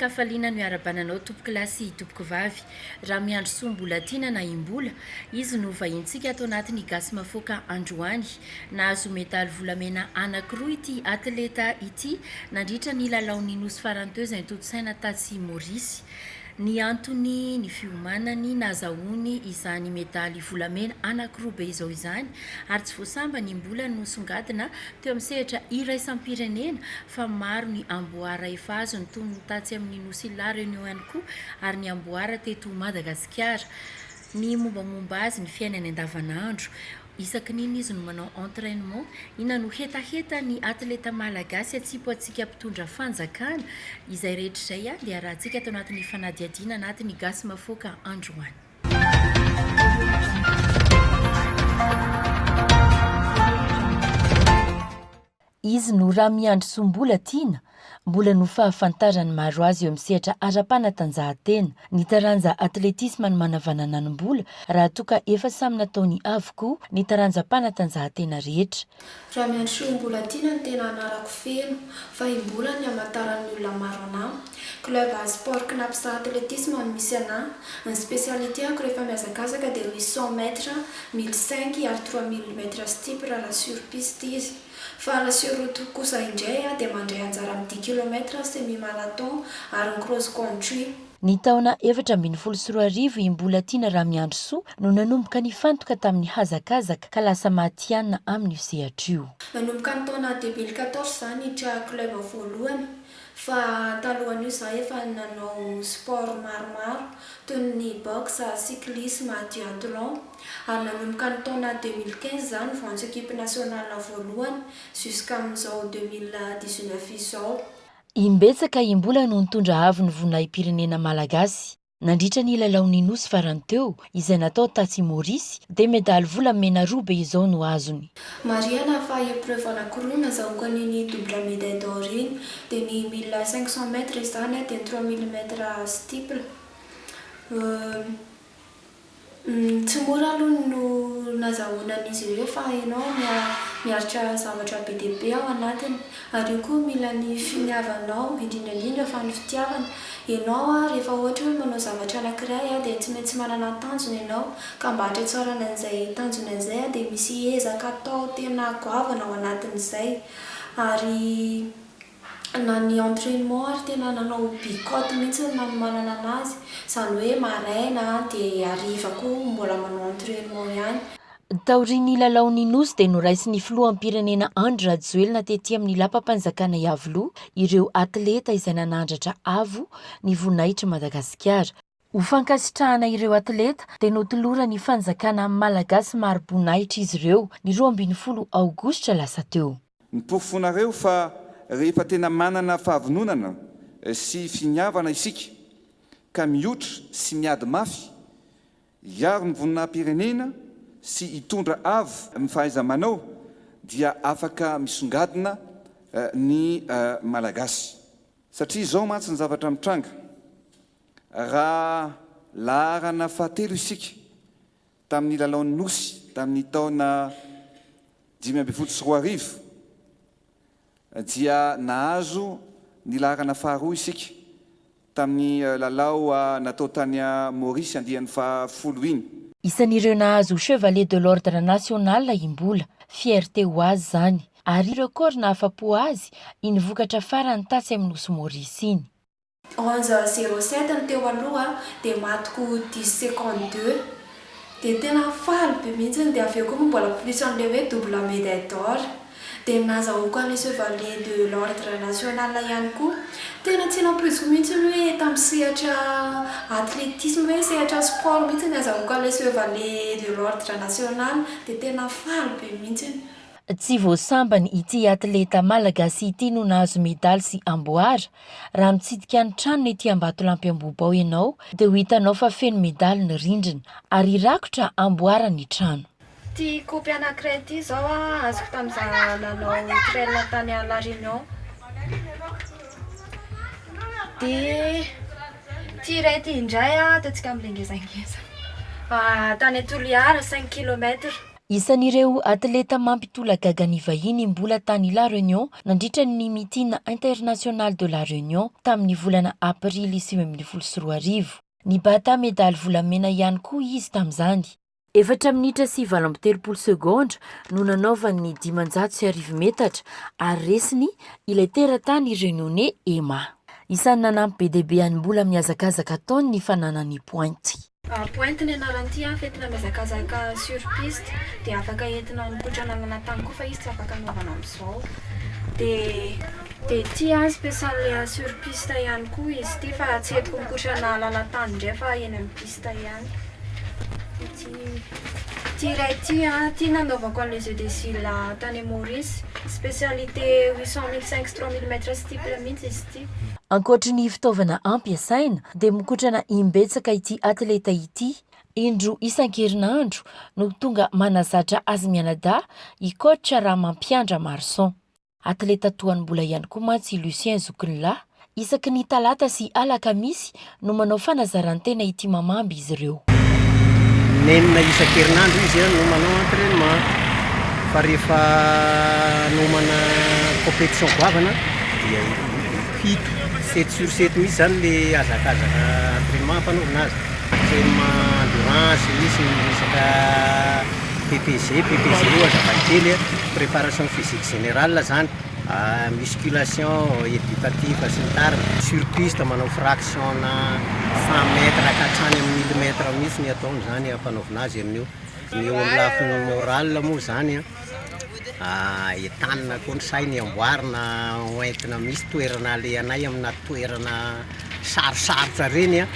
Hafaliana no iarabana anao tompoko lahy sy tompoko vavy. Raha Miandrisoa Mbolatiana na i Mbola, izy no vahinintsika ato anatin'ny Gasy Mafoaka androany. Nahazo medaly volamena anankiroa ity atleta ity nandritra ny lalaon'ny Nosy Farany teo izay notontosaina tatsy Maurice. Ny antony ny fiomanany nahazahoany izany medaly volamena anankiroa be izao izany ary tsy voasambany mbola nosongadina teo amin'ny sehatra iraisam-pirenena fa maro ny amboara efa azony toy ny tatsy amin'ny nosy La Réunion ihany koa ary ny amboara teto Madagasikara. Ny mombamomba azy ny fiainany andavanandro Isaky ny inona izy no manao entrainement? Inona no hetaheta ny atleta malagasy atsipo antsika mpitondra fanjakana? Izay rehetra izay ihany dia arahantsika ato anatin'ny fanadihadiana anatin'ny Gasy Mafoaka androany. Izy no Ramiandrisoambola tiana, mbola no fahafantaran'ny maro azy eo amin'ny sehatra ara-panatanjahantena. Ny taranja atletisma no manavanana ny mbola raha toa ka efa samy nataony avokoa ny taranjam-panatanjahantena rehetra. Ramiandrisoambola tiana no tena anarako feno, fa i Mbola no ihamantaran'ny olona maro anamako. Club Sport Knapsaha Athlétisme no misy anah. Ny spécialité-ako rehefa mihazakazaka dia misy cent mètres, mille cinq ary trois mille mètres steep raha raha sur piste izy. Fa raha sur route kosa indray aho dia mandray anjara amin'ny dix kilomètres, semi-marathon ary ny cross country. Ny taona efatra ambin'ny folo sy roa arivo i Mbolatiana Ramiandrisoa no nanomboka nifantoka tamin'ny hazakazaka ka lasa matihanina amin'io sehatra io. Nanomboka ny taona deux mille quatorze izany niditra club voalohany. Fa talohan'io izaho efa nanao sport maromaro toy ny boxe, cyclisme, duathlon ary nanomboka ny taona deux mille quinze izaho no voantso equipe nationale voalohany jusqu'amin'izao deux mille dix neuf izao. Imbetsaka im-bola no nitondra avo ny voninahi-pirenena malagasy. Nandritra ny lalaon'ny Nosy farany teo, izay natao tatsy Maurice, dia medaly volamena roa be izao no azony. Marihana fa épreuve anankiroa no nazahoako an'iny double médaille d'or iny, dia ny mille cinq cents mètres izany dia ny trois mille mètres steeple. Tsy mora aloha no nazahoana an'izy ireo fa ianao miaritra zavatra be dia be ao anatiny. Ary io koa mila ny finiavanao, indrindra indrindra fa ny fitiavana. Ianao rehefa ohatra hoe manao zavatra anankiray dia tsy maintsy manana tanjona ianao, ka mba hahatratrarana an'izay tanjona izay dia misy ezaka atao tena goavana ao anatin'izay. Ary. na ny entrainement ary tena nanao bicote mihitsy ny nanomanana anazy, izany hoe maraina dia hariva koa mbola manao entrainement ihany. Taorian'ny lalaon'ny Nosy dia noraisin'ny filoham-pirenena Andry Rajoelina tety amin'ny lapam-panjakana Iavoloha ireo atleta izay nanandratra avo ny voninahitr'i Madagasikara. Ho fankasitrahana ireo atleta dia notoloran'ny fanjakana Malagasy mari-boninahitra izy ireo, ny roa ambin'ny folo aogositra lasa teo. Ny porofo fonareo fa rehefa tena manana fahavononana sy finiavana isika ka mioitra sy miady mafy hiaro ny voninahim-pirenena sy hitondra avo ny fahaiza-manao dia afaka misongadina ny Malagasy. Satria izao mantsy ny zavatra mitranga. Raha laharana fahatelo isika tamin'ny lalaon'ny Nosy tamin'ny taona dimy ambin'ny folo sy roa arivo dia nahazo ny laharana faharoa isika tamin'ny lalao natao tany Maurice andiany fahafolo iny. Isan'ireo nahazo Chevalier de l'Ordre National i Mbola. Fierté ho azy izany. Ary record nahafa-po azy iny vokatra farany tatsy amin'ny Nosy Maurice iny. Onze zero sept ny teo aloha dia maty ko dix secondes deux dia tena faly be mihitsiny dia avy eo ko mbola plus an'ilay hoe double medaille d'or dia nazahoako an'ilay chevalier de l'ordre national ihany koa tena tsy nampoiziko mihitsiny hoe tamin'ny sehatra athletisme hoe sehatra sport mihitsy ny azahoako an'ilay chevalier de l'ordre national dia tena faly be mihitsiny. Tsy vao sambany ity athleta malagasy ity no nahazo medaly sy amboara Raha mitsidika ny tranony ety Ambatolampy Ambohibao ianao dia ho hitanao fa feno medaly ny rindrina ary hirakotra hamboara ny trano. Ity kopy anankiray ity izao azoko tamin'izaho nanao trail tany à la Réunion. Dia ity iray ity indray dia antsika milengezangeza. Tany Toliara cinq kilomètres. Isan'ireo atleta mampitolagaga ny vahiny mbola tany La Réunion nandritra ny Meeting International de La Réunion tamin'ny volana Aprily sivy ambin'ny folo sy roa arivo. Nibata medaly volamena ihany koa izy tamin'izany. Efatra minitra sy valo amby telopolo segondra no nanaovany ny dimanjato sy arivo metatra ary resiny ilay teratany Reunionnais Emma. Isan'ny nanampy be dia be an'i Mbola mihazakazaka ataony ny fananany pointy. Pointe ny anaran'ity afo entina mihazakazaka sur piste dia afaka entina mikotrana amina tany koa fa izy tsy afaka anaovana amin'izao dia dia ity spécial sur piste ihany koa izy ity fa tsy entiko mikotrana lalan-tany indray fa eny amin'ny piste ihany ity ity iray ity ity nanaovako an'ilay jeu de zila tany Maurice spécialité 800 mille 5 3 mille mètres steeple mihitsy izy Ankoatry ny fitaovana ampiasaina dia mikotrana imbetsaka ity atleta ity, indroa isan-kerinandro no tonga manazatra azy mianadahy i coach Ramampiandra Marson. Atleta toa an'i Mbola ihany koa mantsy i Lucien zokin'lahy, isaky ny talata sy alakamisy no manao fanazaran-tena ity mamamby izy ireo. In'enina isan-kerinandro izy no manao entrainement fa rehefa hanomana competition goavana dia fito, sept sur sept mihitsy izany ilay hazakazaka entrainement hampanaovina azy. Entrainement endurance, misy ny resaka PPG, PPG io hazavaikely, préparation physique générale izany. musculation, éducatif sy ny tariny. Sur piste manao fraction na cent mètres ka hatrany amin'ny mille mètres mihitsy ny ataony izany hampanaovina azy amin'io. Ny eo amin'ny lafiny morale moa izany an, entanina koa ny sainy, amboarina ho entina misy toerana alehanay amina toerana sarosarotra ireny an,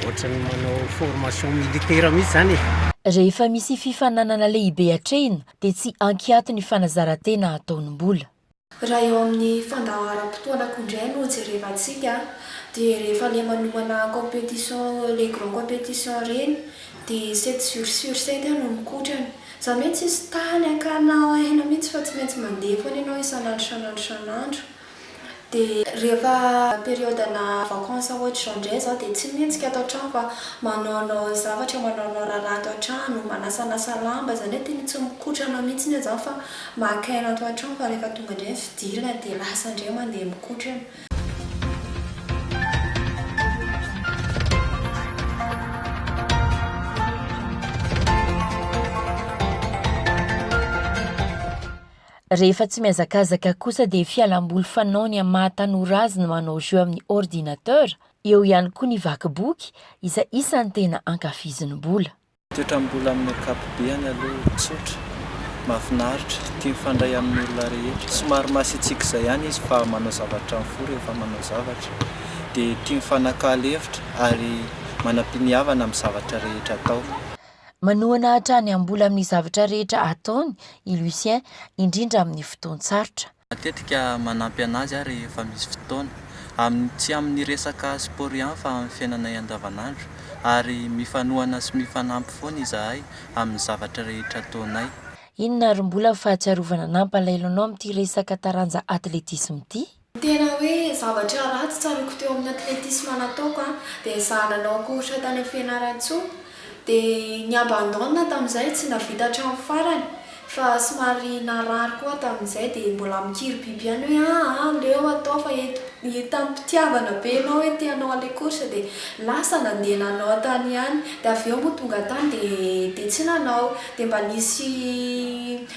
ohatran'ny manao formation militaire mihitsy izany e. Rehefa misy fifaninanana lehibe atrehina dia tsy ankiato ny fanazarantena ataony mbola. Raha eo amin'ny fandaharam-potoanako indray no jerevantsika dia rehefa le manomana competition le grand competition ireny dia sept jours sur sept aho no mikotrana. Za mihitsy tsisy tany hakana aina mihitsy fa tsy maintsy mandeha foana ianao isan'andro isan'andro isan'andro. Dia rehefa periode-na vacances ohatr'izao indray izaho dia tsy mihetsika ato an-trano fa manaonao zavatra, manaonao raharaha ato an-trano, manasanasa lamba, izany hoe tena tsy mikotrana mihitsy aho izany fa maka aina ato an-trano fa rehefa tonga indray ny fidirana dia lasa indray mandeha mikotrana. Rehefa tsy mihazakazaka kosa dia fialamboly fanaony amin'ny maha tanora azy ny manao jeux amin'ny ordinateur, eo ihany koa ny vaky boky izay isan'ny tena ankafiziny mbola. Toetram-bola amin'ny ankapobehany aloha tsotra, mahafinaritra, tia mifandray amin'ny olona rehetra, somary masiatsik'izay ihany izy fa manao zavatra amin'ny fo rehefa manao zavatra, dia tia mifanakalo hevitra ary manam-piniavana amin'ny zavatra rehetra atao. Manohana hatrany am-bola amin'ny zavatra rehetra ataony i Lucien, indrindra amin'ny fotoan-tsarotra. Matetika manampy an'azy aho rehefa misy fotoana. Amin'ny tsy amin'ny resaka sport ihany fa amin'ny fiainanay andavanandro. Ary mifanohana sy mifanampy foana izahay amin'ny zavatra rehetra ataonay. Inona ary mbola fahatsiarovana nampalailanao amin'ity resaka taranja atletisme ity? Tena hoe zavatra ratsy tsaroako teo amin'ny athlétisme nataoko an, dia izaho nanao course tany amin'ny Fianarantsoa, dia ni abandonne tamin'izay, tsy nahavita hatramin'ny farany, fa somary narary koa aho tamin'izay, dia mbola mikiribiby ihany hoe aa aleo atao fa eto, hitan'ny mpitiavana be anao hoe te hanao an'ilay course dia lasa nandeha nanao tany ihany, dia avy eo moa tonga tany dia dia tsy nanao, dia mba nisy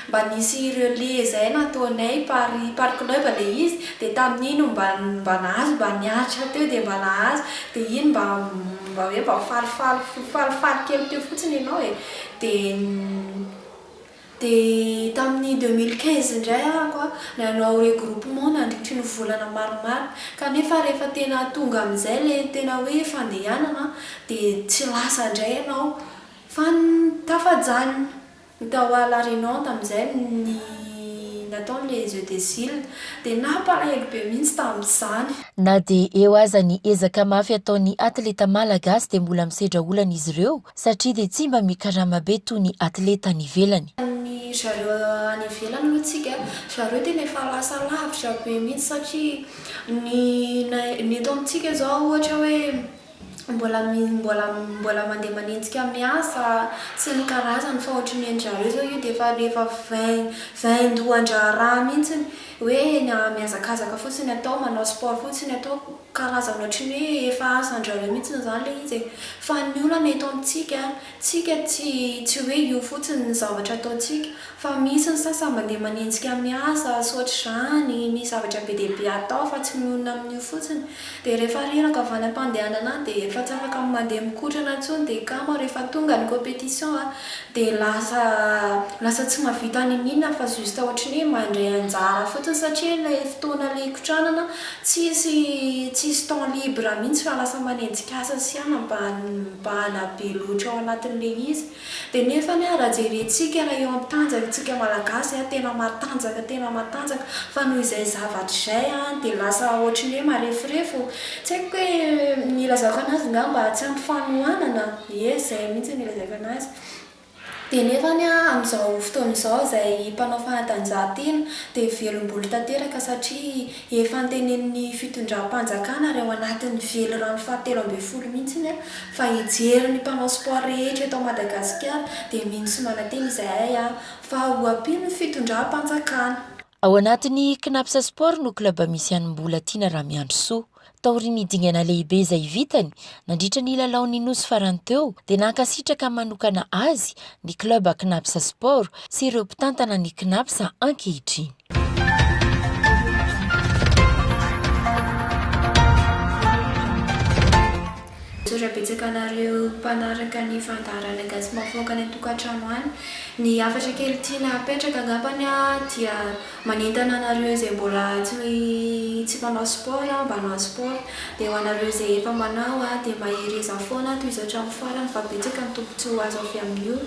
Mba nisy relais zay nataonay par parc neuve le izy de tamin'iny mba mba nahazo mba niaritra teo de mba nahazo de iny mba mba hoe mba falifaly falifaly kely teo fotsiny ianao e de de tamin'ny deux mille quinze indray arako a nanao regroupement nandritry ny volana maromaro kanefa rehefa tena tonga amin'izay le tena hoe fandehanana de tsy lasa ndray ianao fa tafajanona Ho tao à la Réunion tamin'izay ny natao ny les Eudesil dia nampalahelo be mihitsy tamin'izany. Na dia eo aza ny ezaka mafy ataon'ny atleta Malagasy dia mbola misedra olana izy ireo satria dia tsy mba mikarama be toy ny atleta any ivelany. Ny ry zareo any ivelany aloha tsika ry zareo tena efa lasa lavitra be mihitsy satria ny ny eto amintsika izao ohatra hoe Mbola mbola mbola mandeha manenjika miasa sy ny karazany fa ohatry ny an-dry zareo izao io dia efa efa vain vaindohan-draharaha mihitsy hoe mihazakazaka fotsiny atao manao sport fotsiny atao karazana ohatry ny hoe efa asan-dry zareo mihitsy izany ilay izy e! Fa ny olana eto amintsika tsika tsy tsy hoe io fotsiny ny zavatra ataontsika Fa misy ny sasany mandeha manenjika miasa sy ohatr'izany, misy zavatra be dia be atao fa tsy mionona amin'io fotsiny. Dia rehefa reraka avy any am-pandehanana any dia efa tsy afaka mandeha mikotrana intsony dia kamo ary efa tonga ny competition a! dia lasa lasa tsy mahavita niniana fa juste ohatry ny hoe mandray anjara fotsiny satria ilay fotoana ilay ikotranana tsisy tsisy temps libre mihitsy fa lasa manenjika asa sy anabahana mibahana be loatra ao anatin'ilay izy. Dia nefa anie raha jerentsika raha eo amin'ny tanjaka tsika malagasy a, tena matanjaka tena matanjaka fa noho izay zavatra izay a dia lasa ohatry ny hoe mareforefo o. Tsy haiko hoe ny ilazako anazy ngamba tsy ampy fanohanana, ie izay mihintsy no ilazako anazy. Dia nefa anie a amin'izao fotoana izao izay mpanao fanatanjahantena dia velom-bolo tanteraka satria efa antenenin'ny fitondram-panjakana ary ao anatin'ny velirano fahatelo ambin'ny folo mihintsy anie a. Fa hijery ny mpanao sport rehetra eto Madagasikara dia mino sy manantena izahay a! Fa ho ampio ny fitondram-panjakana. Ao anatin'ny Cnaps Sport no club misy an'i Mbolatiana Ramiandrisoa. Taorian'ny dingana lehibe izay vitany nandritra ny lalaon'ny Nosy farany teo dia nankasitraka manokana azy ny club Cnaps Sport sy ireo mpitantana ny Cnaps ankehitriny. Misaotra betsaka anareo mpanaraka ny fandaharana gasy mahafaoka any an-tokantrano any. Ny hafatra kely tiana apetraka angambany dia manentana anareo izay mbola tsy mpanao sport mba hanao sport. Dia ho anareo izay efa manao dia mahereza foana tohizo hatramin'ny farany fa betsaka ny tombotsoa azo avy amin'io.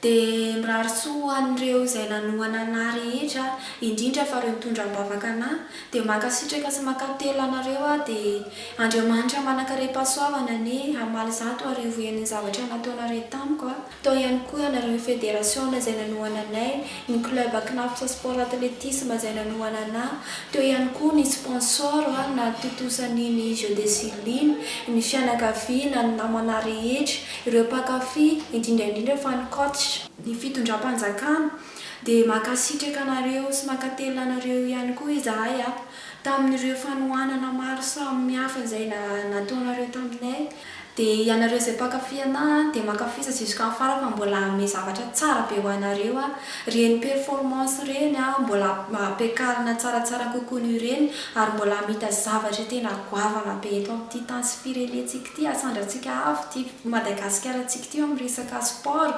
Dia mirary soa ho an'ireo izay nanohana anah rehetra indrindra fa ireo nitondra am-bavaka anah. Dia mankasitraka sy mankatelina anareo aho dia Andriamanitra manankarem-pahasoavana anie hamaly zato arivo heny ny zavatra nataonareo tamiko a! Tao ihany koa ianareo federasiona izay nanohana anay, ny club Knafs Sport Athletisme izay nanohana anà, teo ihany koa ny sponsor nahatontosa an'iny Jeux de Silla iny, ny fianakaviana, ny namanà rehetra, ireo mpankafy, indrindra indrindra fa ny coach, ny fitondram-panjakana, Dia mankasitraka anareo sy mankatelina anareo ihany koa izahay a, tamin'ireo fanohanana maro samy hafa izay nataonareo taminay. Dia ianareo izay mpankafy anah a, dia mankafisa jusqu'en fin fa mbola hanome zavatra tsara be ho anareo aho. Ireny performance ireny a, mbola hampiakarina tsaratsara kokoa noho ireny ary mbola hamita zavatra tena goavana be eto amin'ity tany sy firenentsika. Ty asandratsika avo ty Madagasikarantsika ty amin'ny resaka sport.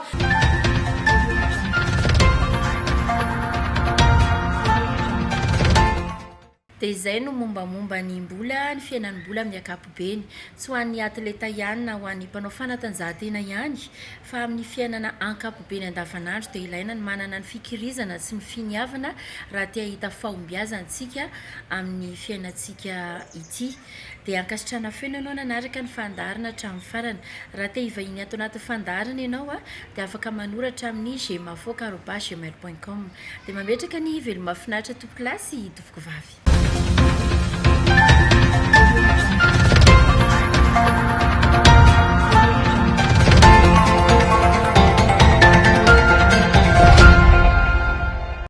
Dia izay no mombamomba ny mbola, ny fiainan'ny mbola amin'ny ankapobeny. Tsy ho an'ny atleta ihany na ho an'ny mpanao fanatanjahantena ihany fa amin'ny fiainana ankapobeny andavanandro dia ilaina ny manana ny fikirizana sy ny finiavana raha te hahita fahombiazana isika amin'ny fiainantsika ity. Dia ankasitrahana feno ianao nanaraka ny fandaharana hatramin'ny farany. Raha te hivahiny ato anatin'ny fandaharana ianao dia afaka manoratra amin'ny gmafoak arobas gmail point com. Dia mametraka ny veloma mahafinaritra tompokolahy sy tompokovavy.